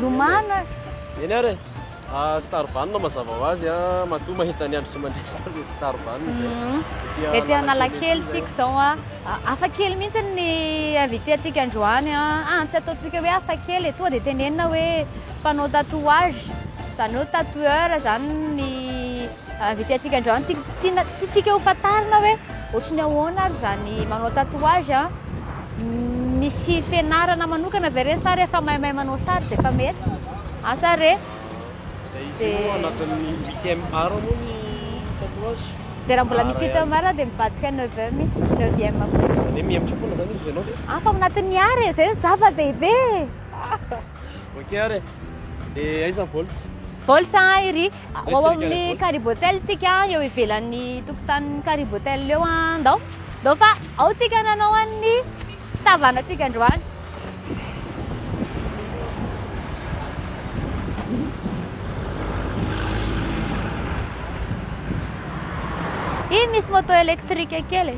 Lomano e. Eny ary e. Star Vanina mazava ho azy a, matoa mahita ny andro tsy mandresy tany ny Star Vanina zay. Mhm. Ety Analakely tsika zao a. Hafa kely mihitsy ny invité antsika androany a. Ah, tsy ataontsika hoe hafa kely e, tonga dia tenenina hoe mpanao tatouage, zany hoe tatoueur zany ny Avy ety antsika indray no tiana tiantsika ho fantarina hoe ohatry ny ahoana ary izany manao tatouage a. Misy fianarana manokana ve re sa rehefa maimay manao sary dia efa mety? Asa re? Dia izy io Dia- anatin'ny huitième art moa ny tatouage. Dia raha mbola misy Ara huitième ihany. art dia mivadika neuvième izy, neuvième koa izy. Izany hoe mihemotra foana izany izy ianao dia. Hafa ao anatin'ny art e, izay no zava-dehibe e! Ok ary e. Dia aiza ny bols? Bols an iry. Ho ao amin'ny Caribotel tsika eo ivelan'ny tokotanin'ny Caribotel eo an. Ndao. Ndao fa ao tsika nanao an'ny fitavana tsika androany. Iny misy moto électrique kely.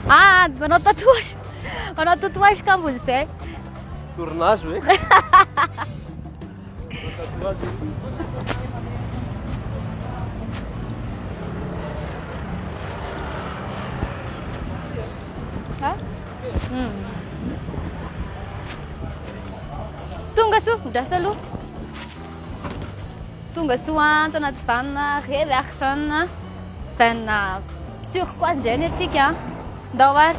Ah, manao tatouage. Manao tatouage kambony zay. Tournazo eh. Ha? Hmm. Tonga soa, midrasa aloha. Tonga soa an, tao anaty vanina, revy ary vanina. Vanina turquoise indray ny atsika. Ndao ary.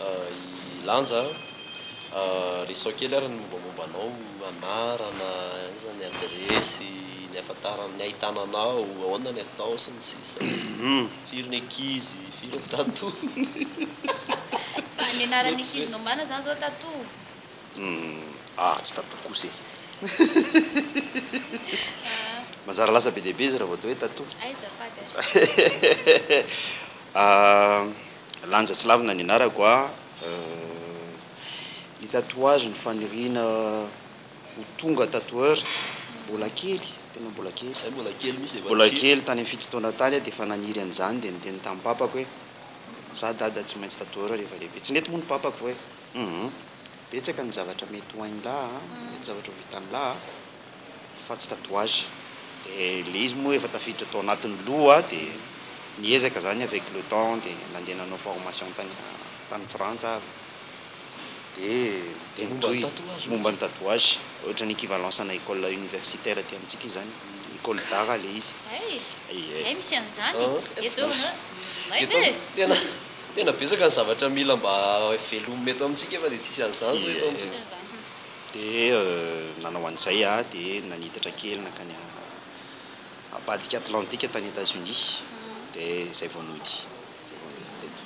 I Lanja a, resao kely ary ny mombamomba anao, anarana, aiza ny adiresy, ny ahafantarana, ny ahitana anao, ahoana ny atao sy ny sisa Firy ny ankizy, firy ny tatony. Fa ny anaran'ny ankizy nombana zany zao tato? Humm ah tsy tato kosa e! Manjary lasa be dia be izy raha vao atao hoe tato. Aiza Padre? Ahh. Lanja tsy lavina ny anarako ah eh Ny tatouage ny faniriana ho tonga tatoueur Mbola kely, tena mbola kely, mbola kely tany amin'ny fito taona tany aho dia efa naniry an'izany dia niteny tamin'ny papako hoe Za dada tsy maintsy tatoueur rehefa lehibe Tsy nety moa ny papako hoe humm betsaka ny zavatra mety ho hain'lah ah, betsaka ny zavatra ho vitan'lah ah. fa tsy tatouage dia ilay izy moa efa tafiditra tao anatin'ny loha dia niezaka izany avec le temps dia nandeha nanao formation tany tany frantsa aho dia dia nitohy momba ny tatouage ohatran'ny equivalence ana école universitaire aty amintsika izany école d'art ilay izy hay misy an'izany etsy tena tena betsaka ny zavatra mila mba velomina eto amintsika efa dia tsisy an'izany izao eto amintsika. Dia nanao an'izay aho dia nanitatra kely nankany ambadika Atlantika tany Etazonia, dia izay vao nody, izay vao nody teto.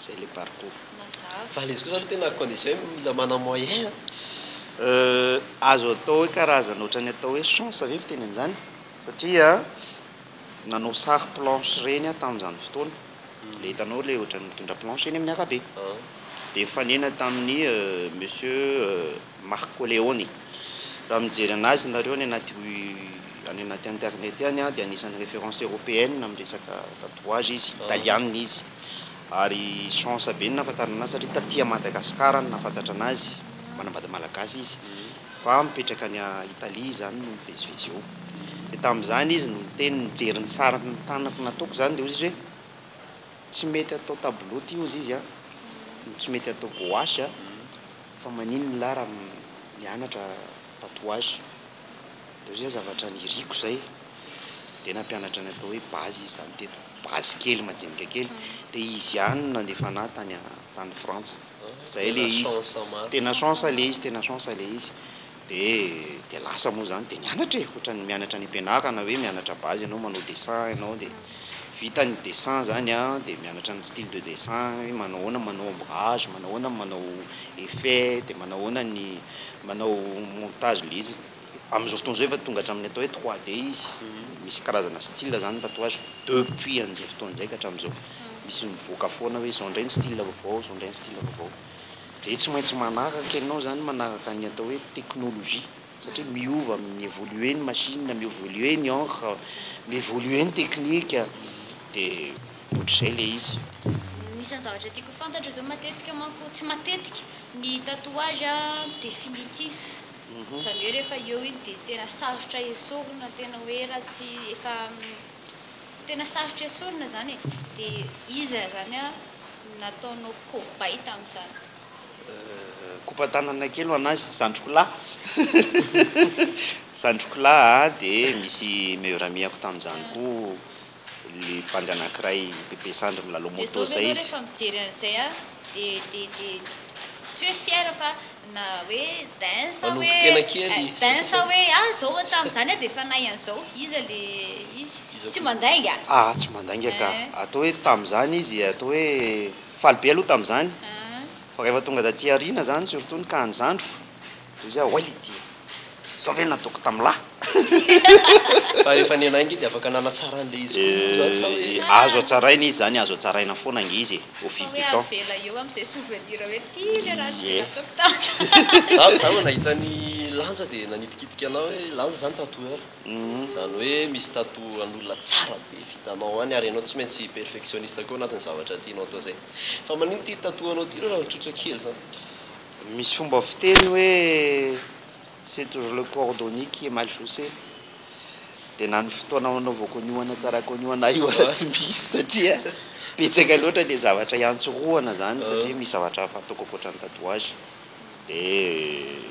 Izay ilay parcours. Mazava. Fa ilay izy kosa aloha tena à condition hoe mila manana moyen an! Azo atao hoe karazana ohatran'ny atao hoe chance ve fiteny an'izany? Satria nanao sary planche ireny aho tamin'izany fotoana. le hitanao le ohatran'ny mitondra planche eny amin'ny arabe dia nifanena tamin'ny monsieur Marco Leone raha mijery anazy nareo any anaty any anaty internet any dia anisan'ny référence européenne amin'ny resaka tatouage izy italiana izy ary chance be no nahafantarana anazy satria taty Madagascar no nahafantatra anazy manambady malagasy izy Fa mipetraka any Italie izy zany no mivezivezy eo. Dia tamin'izany izy no niteny, nijery ny sary ny tanako nataoko zany dia hozy izy hoe, tsy mety atao tableau ity hozy izy a, no tsy mety atao gouache a, fa maninona lah raha mianatra tatouage. Dia hozy izy hoe, zavatra niriko izay. Dia nampianatra ny atao hoe base izy zany teto, base kely, majinika kely. Dia izy ihany no nandefa anah tany Frantsa. zay le izy tena chance le izy tena chance le izy de de lasa moa zany de nianatra e otrany mianatra any am-pianarana hoe mianatra base ianao manao dessin ianao de vita ny dessin zany a de mianatra ny style de dessin hoe manao ahoana manao ombrage manao ahoana manao effet de manao ahoana ny manao montage le izy Amin'izao fotoana izao efa tonga hatramin'ny atao hoe trois D izy. Misy karazana style izany ny tatouage depuis an'izay fotoana izay ka hatramin'izao. Misy mivoaka foana hoe izao indray ny style vaovao, izao indray ny style vaovao. Dia tsy maintsy manaraka ianao izany, manaraka ny atao hoe teknolojia satria miova, mi-evoluer ny machine, mi-evoluer ny encre, mi-evoluer ny teknika, dia ohatr'izay ilay izy. Anisan'ny zavatra tiako ho fantatra izao matetika manko, tsy matetika, ny tatouage définitif. Izany hoe rehefa eo iny dia tena sarotra esorina, tena hoe raha tsy efa tena sarotra esorina izany e. Dia iza izany no nataonao kobay tamin'izany? Kopa-tanana kely ho an'azy, zandriko lahy. Zandriko lahy dia misy meilleur ami-ako tamin'izany koa. le bandy anakiray de be sandry milalao moto zay izy. De zao ve enao refa mijery an'izay a de de de tsy hoe fier fa na hoe dince a hoe dince a hoe ah zao oa tam'zany a de fanahy an'zao iza le izy tsy mandainga? Ah tsy mandainga ka atao hoe tam'zany izy atao hoe faly be aloha tam'zany fa refa tonga taty aoriana zany surtout ny cas an'i zandriko Toy izay hoy ity, Izao ve no nataoko tamin'i lahy? Fa rehefa nenahy ange dia afaka nanatsara an'ilay izy koa moa izany sa hoe. Azo hatsaraina izy izany, azo hatsaraina foana ange izy e, au fil du temps. Fa hoe avela eo amin'izay souvenir hoe ity ilay raha tsy dia nataoko tamin'i lahy. Za vao nahita an'i Lanja dia nanitikitika anao hoe Lanja izany tatoueur. Izany hoe misy tatou an'olona tsara be vitanao any ary ianao tsy maintsy perfectionniste koa anatin'ny zavatra tianao atao izay. Fa maninona ity tatou anao ity raha tsotra kely izany? Misy fomba fiteny hoe c'est toujours le cordonnier qui est mal chaussé dia na ny fotoana hanaovako an'io hanatsarako an'io ana io aza tsy misy satria betsaka loatra le zavatra hiantsorohana zany satria misy zavatra hafa ataoko ankoatra ny tatouage dia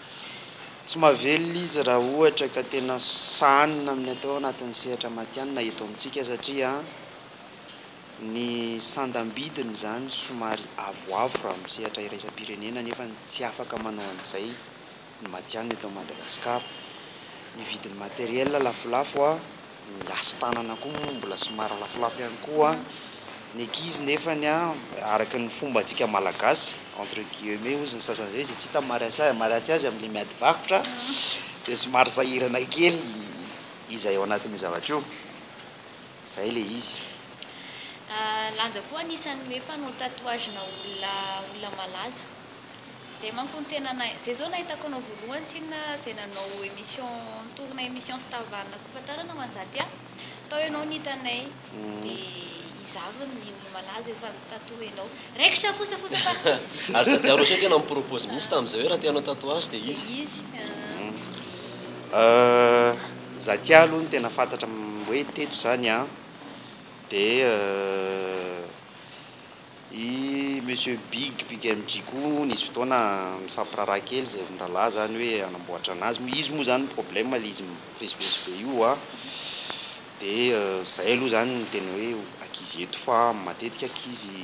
Tsy mahavelona izy raha ohatra ka tena sahanina amin'ny atao anatin'ny sehatra matihanina eto amintsika satria ny sandam-bidiny izany somary avoavo raha amin'ny sehatra iraisam-pirenena nefa tsy afaka manao an'izay ny matihanina eto Madagasikara. Ny vidin'ny matériel lafolafo. Ny hasin-tanana koa moa mbola somary lafolafo ihany koa ny ankizy nefany araka ny fombantsika malagasy entre guillemets hozy ny sasany izay izay tsy hita maharatsy azy amin'ilay miady varotra dia somary sahirana kely izay ao anatin'io zavatra io. Izay ilay izy. Lanja koa anisan'ny hoe mpanao tatouage-na olona olona malaza. Zay manko ny tenanay. Zay zao nahitako anao voalohany tsinona zay nanao emission nitorina emission sy tavanina koa fantarana ho an'i Zatia. Tao ianao no hitanay de izavy ny olomalaza efa nitato ianao. Raikitra fosafosa partout. Ary Zatia Rocher tena ni-propose mihitsy tamin'izay hoe raha te hanao tatouage de izy. De izy ahh. Ahh Zatia aloha no tena fantatra hoe teto izany an. Dia. I Monsieur Big Big MJ koa nisy fotoana nifampiraharaha kely zay mirahalahy zany hoe hanamboatra anazy moa izy moa zany ny problème le izy mivezivezy be io a! de zay aloha zany ny tena hoe ankizy eto fa matetika ankizy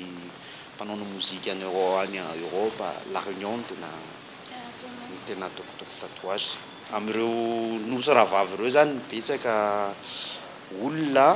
mpanao mozika any Euro any Europe la Réunion no tena no tena ataokataoko tatouage amireo nosy rahavavy reo zany betsaka olona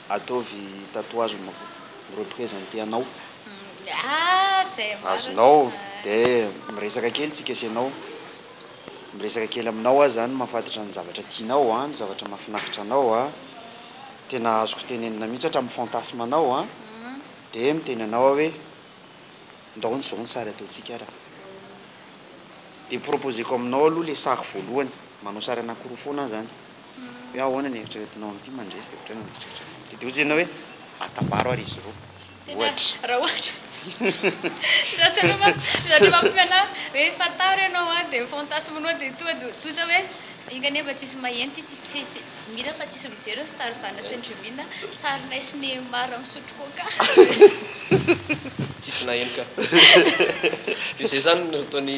Ataovy tatouage ny mako mi-representer anao. Azonao de miresaka kely tsika sy ianao. Miresaka kely aminao aho zany mahafantatra ny zavatra tianao an, ny zavatra mahafinaritra anao an. Tena azoko tenenina mihitsy hatramin'ny fantasme anao an. De miteny anao aho hoe ndao ny zao ny sary ataontsika ara. De proposer-ko aminao aloha le sary voalohany, manao sary anakiroa foana aho zany. Hoe ahoana ny eritreretinao amin'ity mandresy dia ohatrany mieritreritra ny amin'ity. Dia hoy Jenah hoe, Atambaro ary izy roa. Ohatra. Raha ohatra. Raha sainao manko, raha te mampiofana ahy hoe fantaro ianao an, dia fantasme nao dia toa dia toa izao hoe, enga anie mba tsisy maheno ity, tsisy tsisy mihira fa tsisy mijery ny star Vana sy ny Rivine an, sarinay sy Neymar an misotro coca. Tsisy naheno ka. Dia izay izany no ataon'i.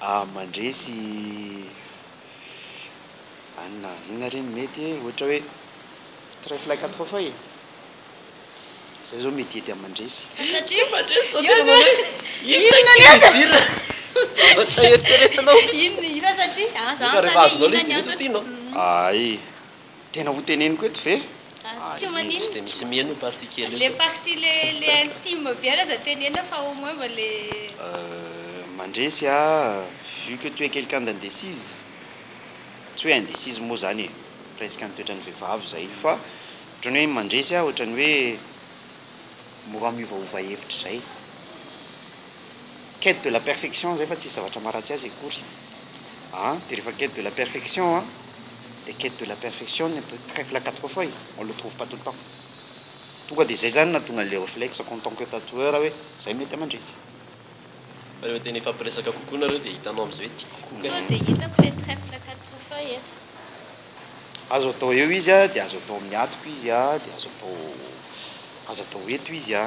A, Mandresy any na inona re ny mety e, ohatra hoe trèfle quatre fois e, izay izao mety hety amin'ny mandresy. Fa satria mandresy izao tena manao hoe inona ny antony? Fa satria, a, za manontany hoe inona ny antony? Hay. Tena ho teneniko eto ve? Ah, tsy maninona. Dia misy mihaino io partie kely io. Le partie le le intime bien aza teneno fa au moins mba le. Euh, mandresy a, vu que tu es quelqu'un d'indécise, tsy hoe indécise moa zany e, presque ny toetran'ny vehivavy zay fa otrany hoe mandresy a otrany hoe mora miovaova hevitra zay. quête de la perfection zay fa tsisy zavatra maharatsy azy akory a de rehefa quête de la perfection a de quête de la perfection ny atao trèfle à quatre feuilles on le trouve pas tout le temps tonga de zay zany nahatonga an'le reflexe qu'en tant que tatoueur hoe zay mety aman-dretsy. Fa rehefa te nifampiresaka kokoa nareo de hitanao am'zay hoe tiako kokoa kay. Tonga de hitako le trèfle à quatre feuilles eto. Azo atao eo izy a, de azo atao amin'ny atoko izy a, de azo atao azo atao eto izy a.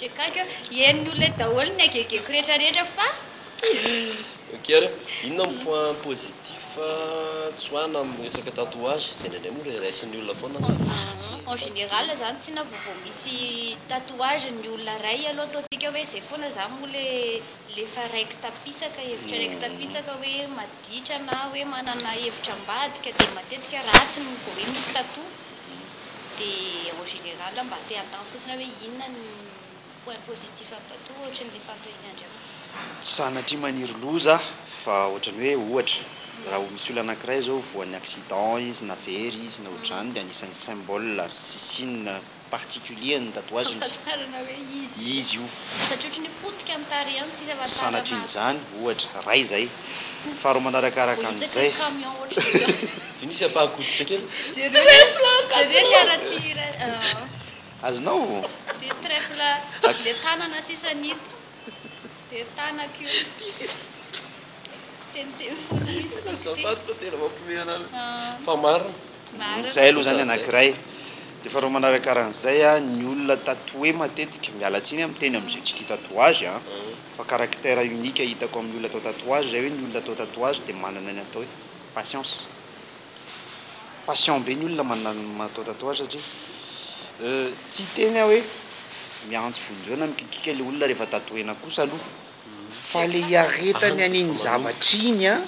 Henony olona daholo ny agegeko retraretra fa Ok ary inona ny point positif tsoahina amin'ny resaka tatouage? Izay indraindray moa re raisin'ny olona foana fa tsy fantatra. En général izany tsy na vao vao misy tatouage ny olona ray aloha ataontsika hoe izay foana za moa le le efa raiky tapisaka hevitra raiky tapisaka hoe maditra na hoe manana hevitra ambadika dia matetika ratsy ny vao hoe misy tatou. Dia en général mba te hatanty fotsiny aho hoe inona ny point positif an'i Tattoo ohatrin'ny le fanontaniana andriamana? Tsy sanatria maniry loza aho fa ohatran'ny hoe ohatra raha ho misy olona anankiray zao voan'ny accident izy na very izy na ohatran'ny dia anisan'ny symbole sy signe particulier ny tatouage ny famantarana hoe izy io. Satria ohatran'ny hoe potika ny tarehany sisa fa tsara maso. Sanatrian'izany ohatra ray zay. Faharoa manaraka araka an'izay ny olona tatoe matetika miala tsiny amin'ny teny amin'izay tsy tia tatouage. Fa caractère unique hitako amin'ny olona atao tatouage zay hoe ny olona atao tatouage dia manana ny atao hoe patience. Patient be ny olona manana atao tatouage satria euh tsy hiteny aho hoe miantso vonjeo na mikikiaka ilay olona rehefa tatouena kosa aloha fa ilay hiaretany an'iny zavatra iny an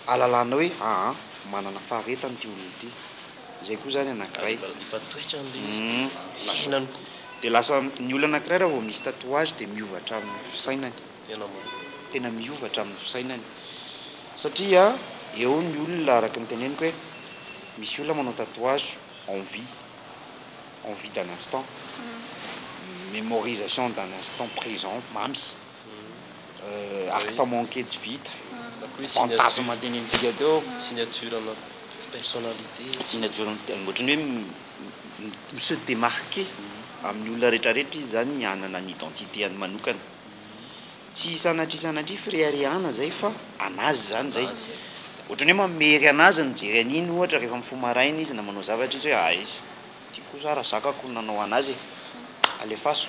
ahalalana hoe aa manana faharetana ity olona ity. Izay koa izany anankiray. Ary mba efa toetra an'ilay izy dia hihinany koa. Dia lasa, ny olona anankiray raha vao misy tatouage dia miova hatramin'ny fisainany. Tena marina. Tena miova hatramin'ny fisainany. Satria eo ny olona araka ny teneniko hoe misy olona manao tatouage envie, envie d'un instant, memorisation d'un instant présent, mamy. Acte manqué tsy vita. Fantasme antenaintsika teo. Signature anao. Tsy personnalité. Signature ohatran'ny hoe mi se démarquer amin'ny olona rehetrarehetra izy zany hanana ny identité-any manokana. Tsy sanatria sanatria fireharehana zay fa anazy zany zay. Ohatran'ny hoe mamery anazy ny mijery an'iny ohatra rehefa mifoha maraina izy na manao zavatra izy hoe aiza ity kosa raha zakako no nanao anazy e. Alefaso.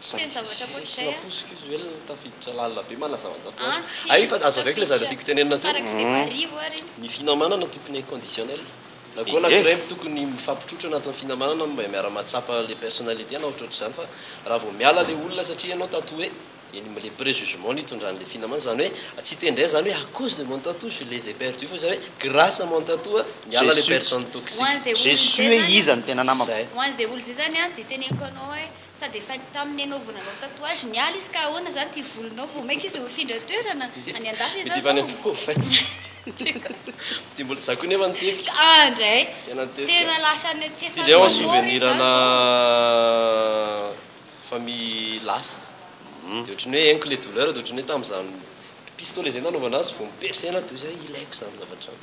Tsy teny zavatra ankoatr'izay aho. Tsy nampoiziko izy ho elona tafiditra lalina be manazava tato ho ato. Hay fa azo avec le zavatra tiako tenenina teo. Ny finamanana tokony inconditionnel. Na koa na creme tokony mifampitrotro anatin'ny finamanana mba miara mahatsapa le personnalité na ohatrohatr'izany fa raha vao miala le olona satria ianao tato hoe eny le prejugement nitondran'ny le finamana izany hoe tsy hiteny indray izany hoe à cause de mon tatou je les ai perdu fa izany hoe grâce à mon tatou a niala le personne toxique. J'ai su hoe iza no tena namako. Ho an'izay olona izay zany a dia teneniko anao hoe. Sady efa tamin'ny ianao vao nanao tatouage ny ala izy ka ahoana izany ity volonao vao maika izy mifindra toerana? Any an-dafy izy zao zao oh! Za koa nefa nitevika. Ah ndray! Tena lasa any atsy efa any manôra izy zany zao. Famille lasa. Dia ohatran'ny hoe henoko ilay douleur dia ohatran'ny hoe tamin'izany pistolet izay nanaovana azy vao mi-percer anaty dia hoe zay ilaiko izany zavatra izany.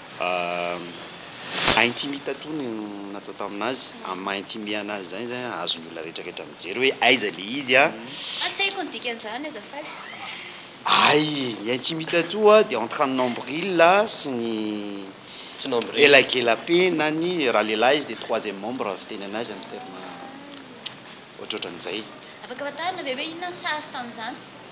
Maha intime tattoo no natao tamin'azy, amin'ny maha intime anazy izany izany an, azon'ny olona rehetra rehetra mijery hoe aiza ilay izy an. Tsy haiko ny dikan'izany azafady. Ay, ny intime tattoo dia entre ny nombril sy ny elakelapenany, raha lehilahy izy dia troisième membre fitenenana azy amin'ny terme ohatrohatran'izay. Afaka fantarina ve hoe inona ny sary tamin'izany?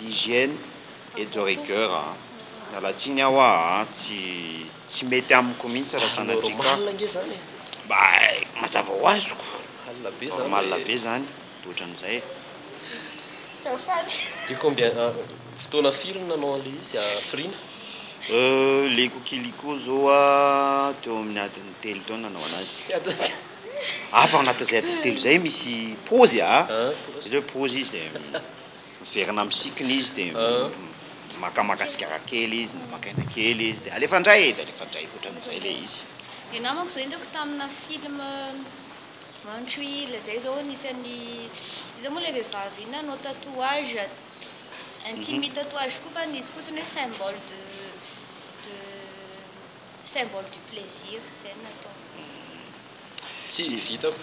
L'hygiène est de rigueur a! Miala tsiny aho a! Tsy tsy mety amiko mihitsy raha sanatria ka mba mazava ho azoko! Normal be zany de ohatran'izay e! Azafady! De combien fotoana firy no nanao an'ilay izy hafiriana? Euh, le coquelicot zao a, teo amin'ny adiny telo teo no nanao anazy. Hafa agnatin'izay adiny telo izay misy paozy a! Zany hoe paozy izy dia. Miverina amin'ny cycle izy dia makamaka sigara kely izy na maka aina kely izy dia alefa indray dia alefa indray ohatran'izay ilay izy. Dia namako izao hitako tamina film one tree hill izay izao anisan'ny iza moa ilay vehivavy iny nanao tatouage intime tatouage koa fa ny izy fotsiny hoe symbole de de symbole du plaisir izay no nataony. Tsy hitako.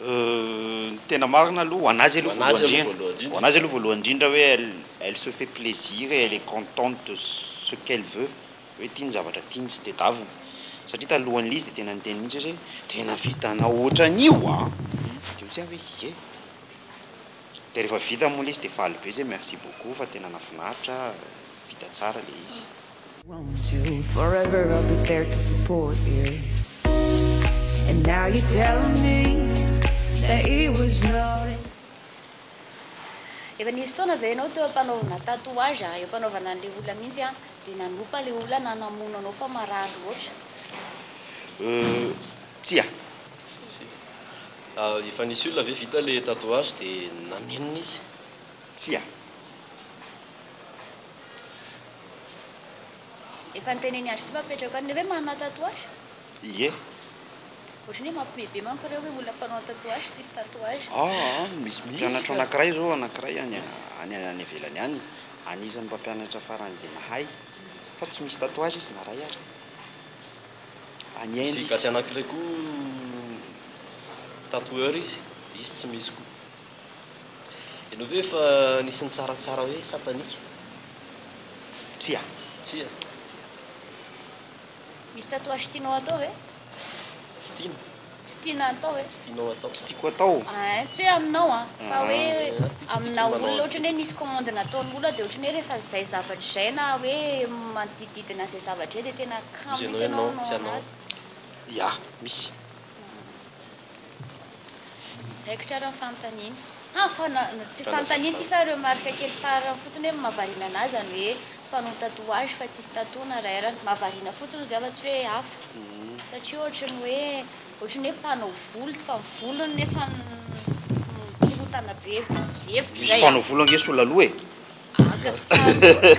Ny tena marina aloha, ho an'azy aloha voalohany indrindra, ho an'azy aloha voalohany indrindra hoe elle, elle se fait plaisir et elle est contente de ce qu'elle veut, hoe tia ny zavatra tiany sy tedaviny. Satria talohan'ilay izy dia tena niteny mihitsy izy hoe tena vitanao hoatran'io a! Dia hoy zay aho hoe ie! Dia rehefa vita moa ilay izy dia faly be izy hoe merci beaucoup fa tena nahafinaritra, vita tsara ilay izy. Efa nisy fotoana ve ianao teo am-panaovana tatouage a? Eo am-panaovana an'ilay olona mihitsy an, dia nanompa ilay olona na namono anao fa marary loatra? Euh, tsia. Ah, efa nisy olona ve vita ilay tatouage dia nanenina izy? Tsia. Efa nitenen'i Ashley fa apetrako any le hoe manana tatouage? Ie. Ohatran'ny hoe mampime be manko ireo hoe olona mpanao tatouage tsisy tatouage. Aa misy mpampianatra anankiray zao anankiray any any any ivelany any anisan'ny mpampianatra farany izay mahay fa tsy misy tatouage izy na ray ary. Any Inde izy. Misy gasy anankiray koa tatoueur izy, izy tsy misy koa. Ianao ve efa nisy nitsaratsara hoe satanika? Tsia. Tsia. Tsia. Misy tatouage tianao hatao ve? Tsy tiana. Tsy tiana hatao ve? Tsy tianao hatao. Tsy tiako hatao. Ein, tsy hoe aminao an, fa hoe amina olona ohatrany hoe nisy commande nataon'olona dia ohatrany hoe rehefa izay zavatra izay na hoe manodidididina izay zavatra izay dia tena kamo mihitsy ianao hanao anazy. Ya, misy. Raikitra ary ny fanontaniana. Ha! fa na, tsy fanontaniana ity fa remarque kely farany fotsiny hoe mahavariana anah zany hoe mpanao tatouage fa tsisy tattoo na ray arany. Mahavariana fotsiny ozy aho fa tsy hoe hafa. Satria ohatry ny hoe, ohatry ny hoe mpanao volo fa ny volony nefa mikorontana be. Hevitro zay a. Misy mpanao volo ange sola loha e. Aga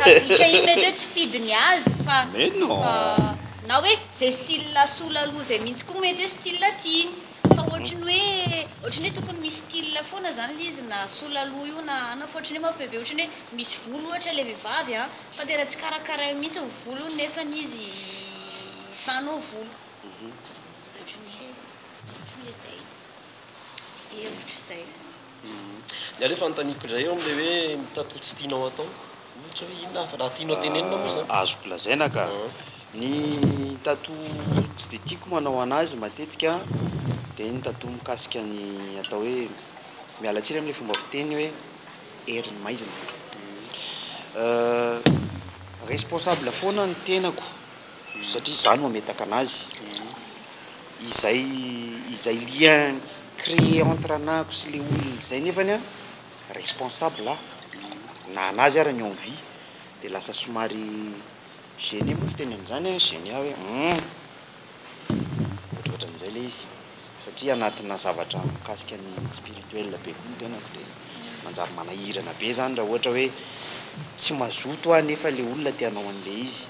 ka dika iny mety hoe tsy fidy ny azy fa Mais non. fa na hoe zay style sola aloha zay mintsy koa mety hoe style tiany fa ohatry ny hoe ohatry ny hoe tokony misy style foana zany le izy na sola aloha io na ana fa ohatry ny hoe manko veve ohatry ny hoe misy volo ohatra le vevavy a fa tena tsy karakarainy mintsy ny volony nefany izy fanao volo ohatry ny hoe ohatry ny hoe zay dia ohatry zay. Ny ahy aloha fanontaniako indray eo amin'ilay hoe mitantò tsy tianao atao, ohatra hoe inona avy raha tianao tenenina moa izany? Azoko lazaina ka. Ny tatò tsy dia tiako manao an'azy matetika dia ny tatò mikasika ny atao hoe, miala tsiny amin'ilay fomba fiteny hoe herin'ny maizina. Responsable foana ny tenako. satria izaho no hametaka anazy, izay izay lien créé entre anahako sy le olona izay nefany an responsable aho na anazy ary ny envie dia lasa somary gêné moa fiteny an'izany an, gêné aho hoe humm ohatrohatran'izay ilay izy satria anatina zavatra mikasika ny spirituel be koa ny tenako dia manjary manahirana be izany raha ohatra hoe tsy mazoto aho nefa ilay olona te hanao an'ilay izy.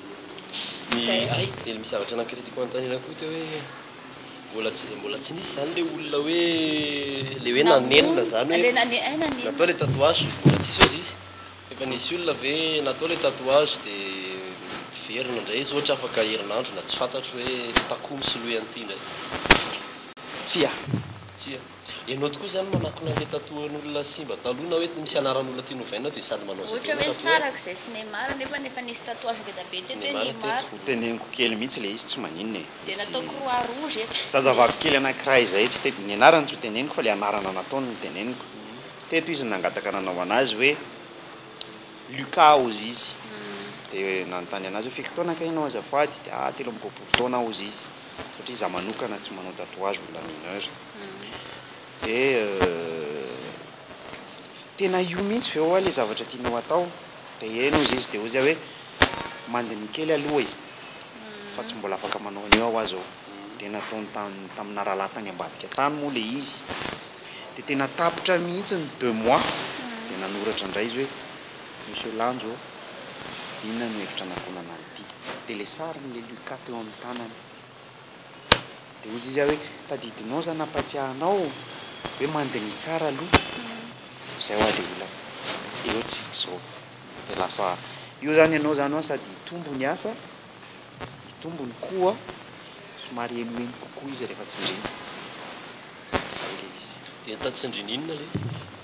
Ny ahy dia misy zavatra nankiry tiako hanontaniana koa teo hoe mbola tsy mbola tsy nisy izany ilay olona hoe ilay hoe nanenina izany hoe natao ilay tatouage mbola tsisy ozy izy efa nisy olona ve natao ilay tatouage dia miverina indray izy ohatra afaka herinandro na tsy fantatro hoe takoa misolohy an'ity indray. Tsia. Tsia. Enao tokoa zany manakona le tatoen olona simba taloha na hoe misy anaran olona tianao ovaina dia sady manao zay tianao tatoe. Ohatra hoe sarako zay sy Neymar nefa ny efa nisy tatouage ngeda be teto hoe Neymar. Teneniko kely mihitsy le izy tsy maninona e. Dia natao croix rouge eto. Zazavavy kely anakiray izay tsy te, ny anarany tsy ho teneniko fa le anarana nataony no teneniko. Teto izy no nangataka nanao anazy hoe Lucas hozy izy. Dia nanontany anazy hoe firy taona kay enao azafady dia ah telo amby roapolo taona hozy izy. satria za manokana tsy manao tatouage olona mineur de tena io mihitsy ve oa le zavatra tianao atao de heno ozy izy de ozy ah hoe mandiniha kely aloha e fa tsy mbola afaka manao an'io ah oa zao de nataony tany tamina rahalahy tany ambadika tany moa le izy de tena tapitra mihitsy ny deux mois de nanoratra indray izy hoe Monsieur Lanjo, inona no hevitra anakonana an'ity? Dia ilay sariny ilay Lucas teo amin'ny tanany. Dia hoy izy hoe, tadidinao izany hampatsiahy anao hoe mandiniha tsara aloha izay hoa ilay olana. Dia hoe tsisy izao. Dia lasa io izany ianao izany hoa sady hitombo ny asa, hitombo ny koa, somary henoheno kokoa izy rehefa tsindrina. Dia izay ilay izy. Dia tany tsindrina inona ilay izy?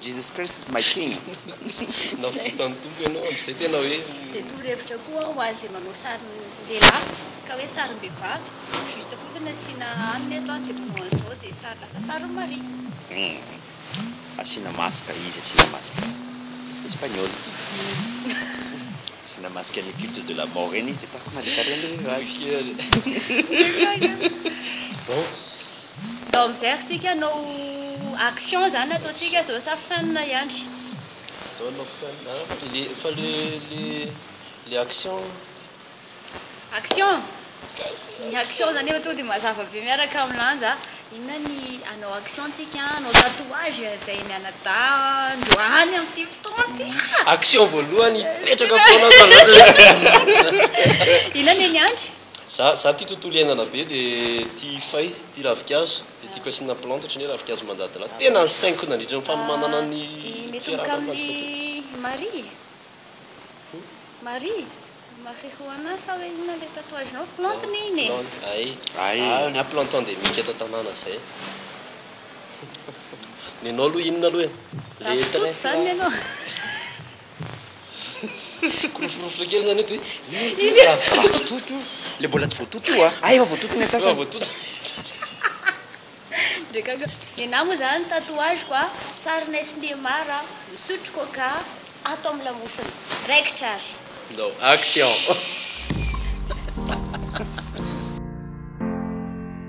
Jesus Christ is my King. Nampita ny Tompo ianao amin'izay tena hoe. Dia torohevitra koa ho an'izay manao sarin-dehilahy ka hoe sarim-behivavy, juste fotsiny asiana aminy eto an, de manao an'izao dia sary lasa sarin'i Maria. Hum. Asiana masque, izy asiana masque espagnol. Asiana masque any culte de la mort eny izy dia tahaka Maria Carey indray ny ragny. Bon. Ndao mijery tsika anao action zany ataontsika zao sa fin ihany. Ndao anao fin a le fa le le le action. Action? Ny action zany efa tonga de mazava be miaraka am lanja a. Inona ny anao action tsika anao tatouage zay mianadahy androany am ty fotoana ty a. Action voalohany hipetraka foana an tanàna. Inona ne ny andry? Za za tia tontolo iainana be de tia fay, tia ravikazo, de tiako asiana plante ohatran'ny hoe ravikazo mandadilady. Tena ny sainiko nandritra ny fanomanana ny fiarahana aminazy koa tompoko. Mitomboka amin'ny Marie eh. Marie, marijuana sa hoe inona ilay tatouage nao? Plante ne iny eh. Plante ay. Ay. Ah ny ahy plante endemique eto an-tanàna zay. Nenao aloha inona aloha eh? Ravitoto zany nenao. Fikoroforofotra kely zany eto hoe. Le mbola tsy voatoto io a! Ah efa voatoto ny sasany. Efa voatoto. Drakaka. Nenaha moa zany ny tatouage-ko a! Sarinay sy Neymar a, misotro coca ato amin'ny lamosina. Raikitra ary. Ndao. Action.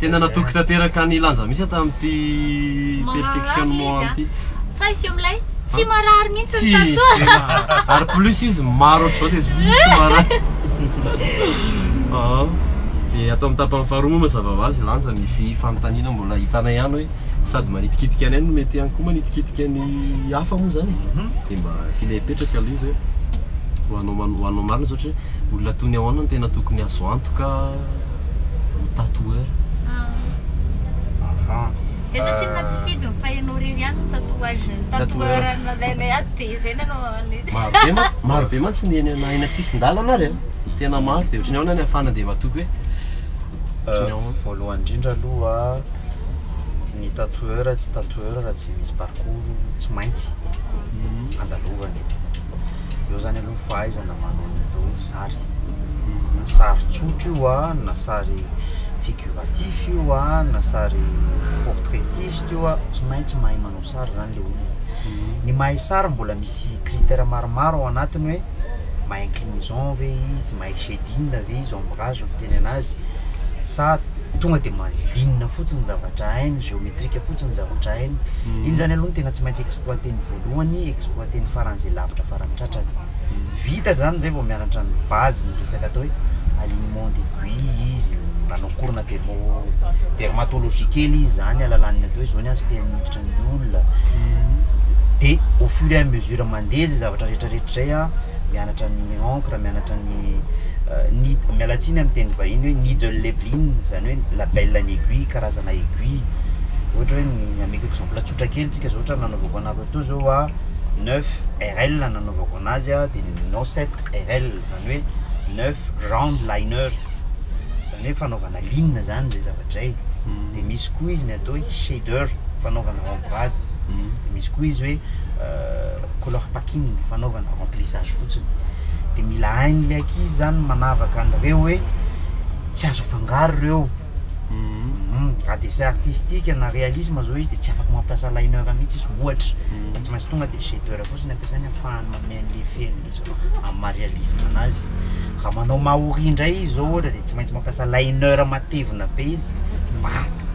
Tena natoky tanteraka ny lanja mihitsy tamin'ity perfectionnement ity. Sa izy io milay? Tsy marary mihitsy ny tatoa. Ary plus izy maro ohatr'izao dia tsy marary. Dia ato amin'ny tapany faharoa moa mazava ho azy lanja misy fanontaniana mbola hitana ihany hoe sady manitikitika anay no mety ihany koa manitikitika ny hafa moa izany e. Dia mba ilay hipetraka aloha izy hoe ho anao ho anao marina izao ohatra hoe olona toy ny ahoana no tena tokony azo antoka. tatoueur aha zay zao tsinona tsy fidiny fa ianao rery ihany no tatouage tatoueur nalainay ato dia izay nanao anay marobe ma marobe mantsy ny eny na eny an-tsisin-dalana ary hmm. tena maro dia ohatran'ny ahoana ny afana dia matoky hoe euh, voalohany indrindra aloha ny tatoueur tsy tatoueur raha tsy misy parcours tsy maintsy hmm. andalovany eo zany aloha fahaizana manao ny atao hoe sary, na sary tsotra io an, na sary figuratif io an, na sary portraitiste io an, tsy maintsy mahay manao sary zany le olona. Ny mahay sary mbola misy critères maromaro ao anatiny hoe mahay inclinaison ve izy, mahay shading ve izy, ombrage ny fiteny anazy sa tonga de malinina fotsiny ny zavatra hainy, géométrique fotsiny ny zavatra hainy. Iny zany aloha no tena tsy maintsy exploiter-ny voalohany, exploiter-ny faran'izay lavitra faran'ny tratrany. Vita zany zay vao mianatra ny base ny resaka atao hoe alignement d'aiguille izy nanao cours na dermo dermatologie kely izy zany alalan'ny atao hoe zao ny aspect-ny hoditra ny olona de au fur et à mesure mandeha zay zavatra rehetra rehetra zay a mianatra ny encre mianatra ny ny miala tsiny amin'ny teny vahiny hoe needle leveling zany hoe label an'ny aiguille karazana aiguille ohatra hoe ny ameko exemple tsotra kely tsika zao ohatra nanaovako Nareo toa zao a 9 RL nanaovako anazy a de ninonao 7 RL zany hoe 9 round liner zany hoe fanaovana ligne zany zay zavatra zay de misy koa izy ny atao hoe shader fanaovana ombrage de misy koa izy hoe color packing fanaovana remplissage fotsiny de mila hain'le ankizy zany manavaka an'reo hoe tsy azo afangaro reo raha dessin artistique na réalisme zao izy de tsy afaka mampiasa liner mihitsy izy ohatra mhm. fa tsy maintsy tonga de shadeur fotsiny ampiasainy afahany manome an'le feny izy amin'ny maha réalisme anazy raha manao maori indray izy zao ohatra de tsy maintsy mampiasa liner matevina be izy mba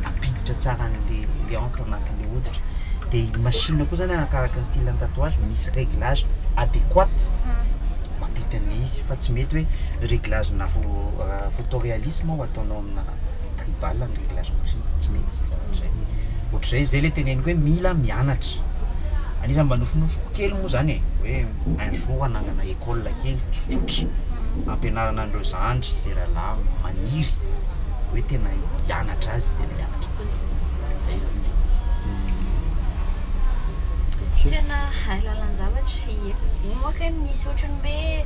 ampiditra tsara an'le le encre anatin'le hoditra de ny machine koa zany arakaraka ny style ny tatouage misy réglage adéquat mhm. mampipy an'le izy fa tsy mety hoe réglage na euh, photo réalisme autonome tribal ny réglage machine, tsy mety izay zavatra izay. Ohatr'izay izay ilay teneniko hoe mila mianatra. Anisan'ny mba nofinofiko kely moa izany e, hoe un jour hanangana école kely tsotsotra hampianarana an'ireo zandry sy rahalahy maniry hoe tena hianatra azy, tena hianatra azy. Izay izany ilay izy. Tena hay lalan-javatra, ie. Moa kay misy ohatran'ny hoe.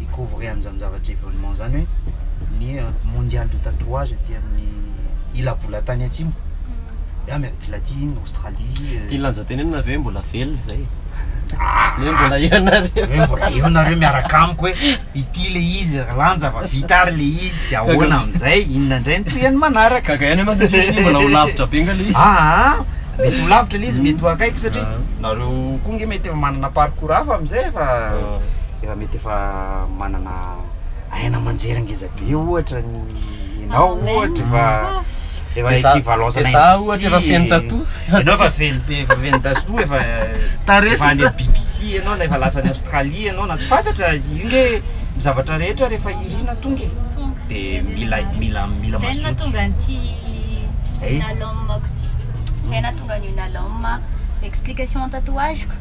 hi-couvrer an'izany zavatra événement zany hoe ny mondial de tatouage aty amin'ny ila-bolan-tany atsimo hoe Amérique Latine, Australie euh, Tia lanja tenenina ve mbola velona izay? Ah! Hoe mbola eo nareo Hoe mbola eo nareo miaraka amiko hoe ity le izy ry lanja fa vita ary le izy dia ahoana amin'izay inona indray ny tohiny manaraka Gaga ihany mantsy ilay fihetsiny, mbola ho lavitra be nga ilay izy. Ah, ah, mety ho lavitra ilay izy, mety ho akaiky satria Ah. nareo koa nge mety efa manana parcours Pour hafa amin'izay efa efa mety efa manana aina aman-jery ngeza be ohatra ny ianao ohatra efa efa equivalence an'aina izaho ohatra efa feno tatou ianao efa feno be efa feno tatou efa tarehy efa any BBC ianao na efa lasa any Australie ianao na tsy fantatra izy io nge ny zavatra rehetra rehefa irina tonga e tonga dia mila mila mila mazoto izay no nahatonga an'ity Nalom-ako ity izay nahatonga an'io Nalom explication tatouage-ko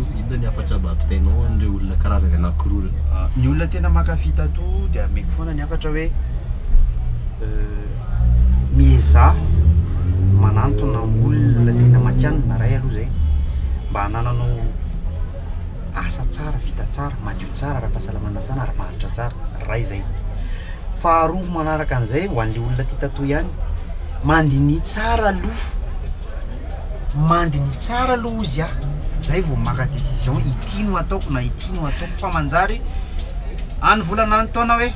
Inona ny hafatra mba ampitainao an'ireo olona karazany anankiroa ireo? Ny olona tena mankafy tattoo dia ameko foana ny hafatra hoe miezaha manantona olona tena matihanina iray aloha izay mba hanananao asa tsara, vita tsara, madio tsara, ara-pahasalamana tsara ary maharitra tsara, iray izay. Faharoa manaraka an'izay ho an'ilay olona tia tattoo ihany, mandinihy tsara aloha. mandiny tsara aloha ozy ah zay vao maka décision ity no ataoko na ity no ataoko fa manjary any volana any taona hoe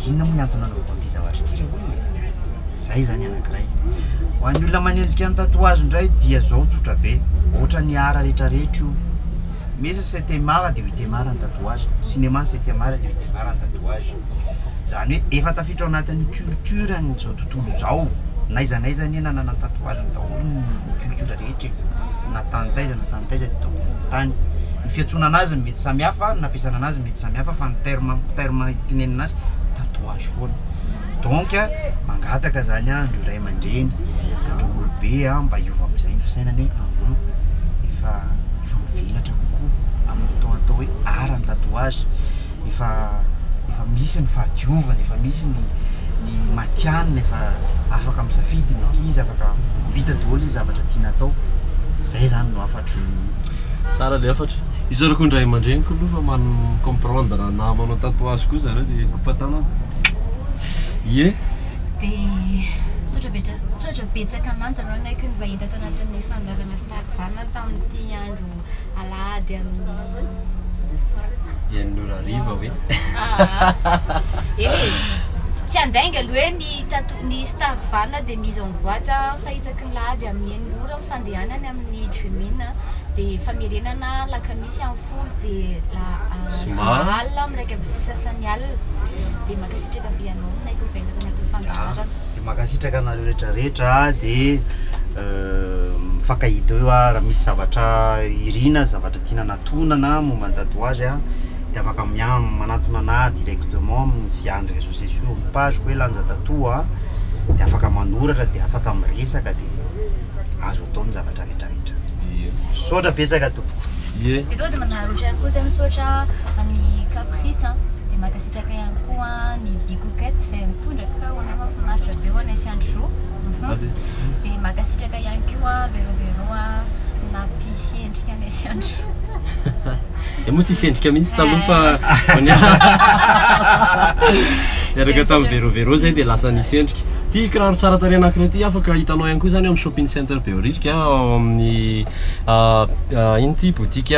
inona moa ny antony nanaovako an'ity zavatra ity ry olona e zay zany anankiray ho an'ny olona manenjika ny tatouage indray dia zao tsotra be ohatra ny art rehetra rehetra io misy septième art dia ho huitième art ny tatouage cinéma ny septième art dia ho huitième art ny tatouage zany hoe efa tafiditra ao anatin'ny culture an'izao tontolo izao, n'aiza n'aiza anie nanana ny tatouage-ny daholo ny culture rehetra e, na tany taiza na tany taiza teto ambonin'ny tany, ny fiantsoana an'azy no mety samy hafa, ny nampiasana an'azy no mety samy hafa fa ny terme terme itenenana azy tatouage foana, donc mangataka zany aho andreo ray aman-dreny, andreo olobe an, mba hiova amin'izay ny fisainana hoe ahh efa efa mivelatra kokoa amin'ny atao atao hoe art ny tatouage. efa efa misy ny fahadiovana, efa misy ny ny matihanina, efa afaka misafidy ny ankizy, afaka vita daholo ny zavatra tiana atao, zay zany no hafatro. Tsara le hafatra. Isaorako ny ray aman-dreny koa aloha fa man comprendre anah manao tatouage koa zareo dia ampantanana. Ie. Dia tsotra betsaka mantsy aloha ny aiko ny vahiny tato anatin'ny fandoavana Star Val tamin'ity andro. alahady amin'ny enina ora hariva hoe eny tsy andainga aloha hoe ny tato ny star vana dia mise en boîte fa isaky ny lahady amin'ny enina ora ny fandehanany amin'ny jumina dia famerenana lakamisy amin'ny folo dia la zoma alina amin'ny raika ambin'ny folo sasany alina dia mankasitraka be anao naiko vainga tanatin'ny fandaharana Mankasitraka anareo rehetra rehetra dia mifankahita eo ah raha misy zavatra irina, zavatra tiana anatonana momba ny tatouage ah dia afaka miha- manatona anahy directement amin'ny vian'ny réseaux sociaux amin'ny page-ko hoe Lanja Tatou ah dia afaka manoratra dia afaka miresaka dia azo atao ny zavatra rehetra rehetra. Ie. Misaotra betsaka tompoko. Ie. Eto dia manararaotra ihany koa zay misaotra an'i Caprice an dia mankasitraka. Betsaka ihany koa ny Bikoket izay mitondra kakaô ho anay, mahafinaritra be ho anay sy andry roa. Dia mankasitraka ihany koa Vero Vero nampisy endrika anay sy andry roa. Izay moa tsisy endrika mihitsy taloha fa vao niaraka tamin'i Vero Vero izay dia lasa nisy endrika. Ity kiraro tsara tarehy anankiray ity afaka hitanao ihany koa izany ao amin'ny shopping center Behoririka ao amin'ny ah, ah, ino ity boutique